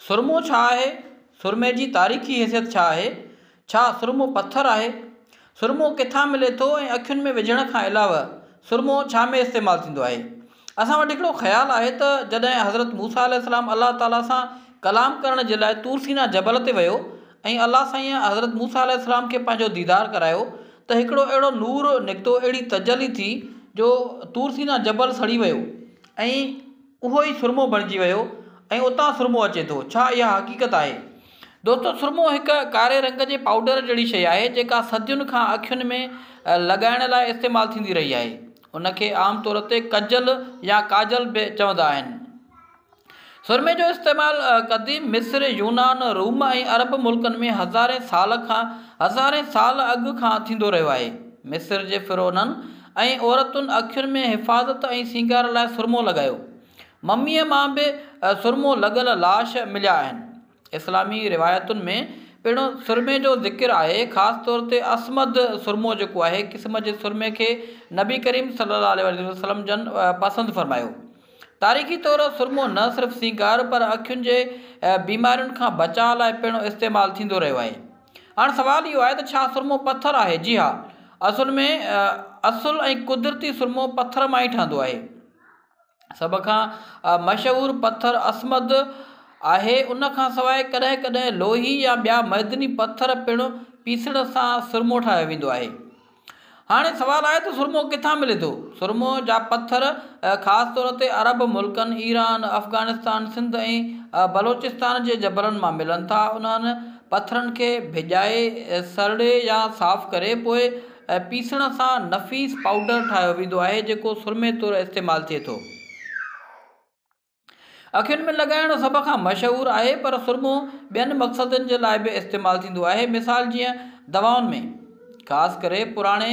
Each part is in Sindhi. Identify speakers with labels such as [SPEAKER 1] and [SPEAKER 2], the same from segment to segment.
[SPEAKER 1] سرمو ڇا آهي؟ سرمي جي تاريخي حيثيت ڇا آهي؟ ڇا سرمو پٿر آهي؟ سرمو ڪٿان ملي ٿو ۽ اکين ۾ وجهڻ کان علاوه سرمو ڇا ۾ استعمال ٿيندو آهي؟ اسان وٽ هڪڙو خيال آهي ته جڏهن حضرت موسيٰ عليه السلام الله تعاليٰ سان ڪلام ڪرڻ جي لاء طور سينا جبل تي ويو ۽ الله سائين حضرت موسيٰ عليه السلام کي پنهنجو ديدار ڪرايو ته هڪڙو اهڙو نور نڪتو اهڙي تجلي ٿي جو طور سينا جبل سڙي ويو ۽ اهو ئي سرمو بڻجي ويو ۽ اتان سرمو اچي ٿو. ڇا اها حقيقت آهي؟ دوستو سرمو هڪ ڪاري رنگ جي پائوڊر جهڙي شيء آهي جيڪا صدين کان اکين ۾ لڳائڻ لاء استعمال ٿيندي رهي آهي. ان کي عام طور تي ڪجل يا ڪاجل به چوندا آهن. سرمي جو استعمال قديم مصر، يونان، روم ۽ عرب ملڪن ۾ هزارين سال کان هزارين سال اڳ کان ٿيندو رهيو آهي. مصر جي فرعونن ۽ عورتن اکين ۾ حفاظت ۽ سينگار لاء سرمو لڳايو. مميء مان به سرمو لڳل لاش مليا آهن. اسلامي روايتن ۾ پڻ سرمي جو ذڪر آهي، خاص طور تي اصمد سرمو جيڪو آهي قسم جي سرمي کي نبي ڪريم صلي الله عليه واٰله وسلم جن پسند فرمايو. تاريخي طور سرمو نه صرف سينگار پر اکين جي بيمارين کان بچاء لاء پڻ استعمال ٿيندو رهيو آهي. هاڻ سوال اهو آهي ته ڇا سرمو پٿر آهي؟ جي ها. اصل ۾ اصل ۽ قدرتي سرمو پٿر مان ئي ٺهندو آهي. سڀ کان مشهور پٿر اسمد آهي. ان کان سواء ڪڏهن ڪڏهن لوهي يا ٻيا معدني پٿر پڻ پيسڻ سان سرمو ٺاهيو ويندو آهي. هاڻي سوال آهي ته سرمو ڪٿان ملي ٿو؟ سرمو جا پٿر خاص طور تي عرب ملڪن، ايران، افغانستان، سنڌ ۽ بلوچستان جي جبلن مان ملن ٿا. انهن پٿرن کي ڀيڄائي، سرڙي يا صاف ڪري پوء پيسڻ سان نفيس پائوڊر ٺاهيو ويندو آهي، جيڪو سرمي طور استعمال ٿئي ٿو. اکين ۾ لڳائڻ سڀ کان مشهور آهي پر سرمو ٻين مقصدن جي لاء به استعمال ٿيندو آهي مثال جيئن دوائن ۾ خاص ڪري پراڻي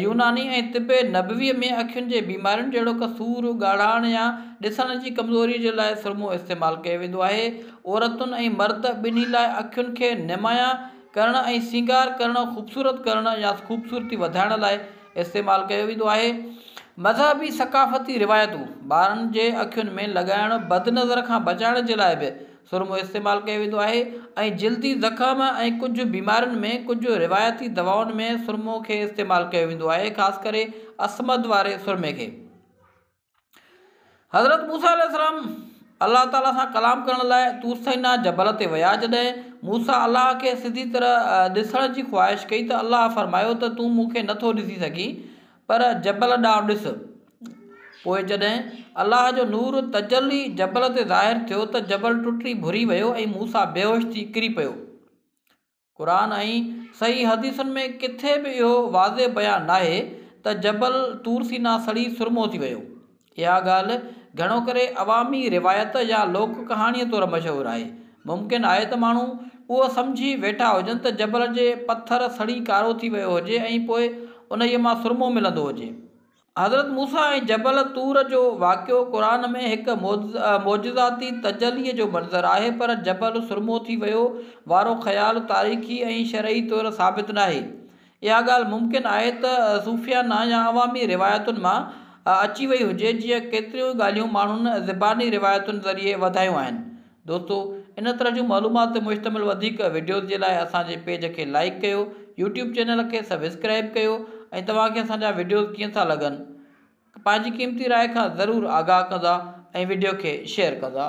[SPEAKER 1] يوناني ۽ طب نبوي ۾ اکين جي بيمارين جهڙوڪ سور، ڳاڙهاڻ يا ڏسڻ جي ڪمزوري جي لاء سرمو استعمال ڪيو ويندو آهي. عورتن ۽ مرد ٻنهي لاء اکين کي نمايان ڪرڻ ۽ سينگار ڪرڻ، خوبصورت ڪرڻ يا خوبصورتي وڌائڻ لاء، استعمال ڪيو ويندو آهي. مذهبي ثقافتي روايتون، ٻارن جي اکين ۾ لڳائڻ بد نظر کان بچائڻ جي لاء به سرمو استعمال ڪيو ويندو آهي ۽ جلدي زخم ۽ ڪجهه بيمارين ۾ ڪجهه روايتي دوائن ۾ سرمو کي استعمال ڪيو ويندو آهي خاص ڪري اسمد واري سرمي کي. حضرت موسيٰ عليه السلام الله تعاليٰ سان ڪلام ڪرڻ لاء طور سينيٰ جبل تي ويا جڏهن موسيٰ الله کي سڌي طرح ڏسڻ جي خواهش ڪئي ته الله فرمايو ته تون مون کي نٿو ڏسي سگهين پر جبل ڏانهن ڏس پوء جڏهن الله جو نور تجلي جبل تي ظاهر ٿيو ته جبل ٽٽي ڀري ويو ۽ موسيٰ بيهوش ٿي ڪري پيو قرآن ۽ صحيح حديثن ۾ ڪٿي به اهو واضح بيان ناهي ته جبل طور سينا سڙي سرمو ٿي ويو. اها ڳالهه گهڻو ڪري عوامي روايت يا لوڪ ڪهاڻيء طور مشهور آهي. ممڪن آهي ته ماڻهو اهو سمجهي ويٺا هجن ته جبل جي پٿر سڙي ڪارو ٿي ويو هجي ۽ پوء انهيء مان سرمو ملندو هجي. حضرت موسيٰ ۽ جبل طور جو واقعو قرآن ۾ هڪ معجزاتي تجلي جو منظر آهي پر جبل سرمو ٿي ويو وارو خيال تاريخي ۽ شرعي طور ثابت ناهي. اها ڳالهه ممڪن آهي ته صوفيانه يا عوامي روايتن مان اچي وئي هجي جيئن ڪيتريون ئي ڳالهيون ماڻهن زباني روايتن ذريعي وڌايون آهن دوستو ان طرح جون معلومات تي مشتمل وڌيڪ وڊيوز جي لاء اسان جي پيج کي لائيڪ ڪيو يوٽيوب چينل کي سبسڪرائيب ڪيو ۽ توهان کي اسان جا وڊيوز ڪيئن ٿا لڳن پنهنجي قيمتي راء کان ضرور آگاهه ڪندا ۽ وڊيو کي شيئر ڪندا.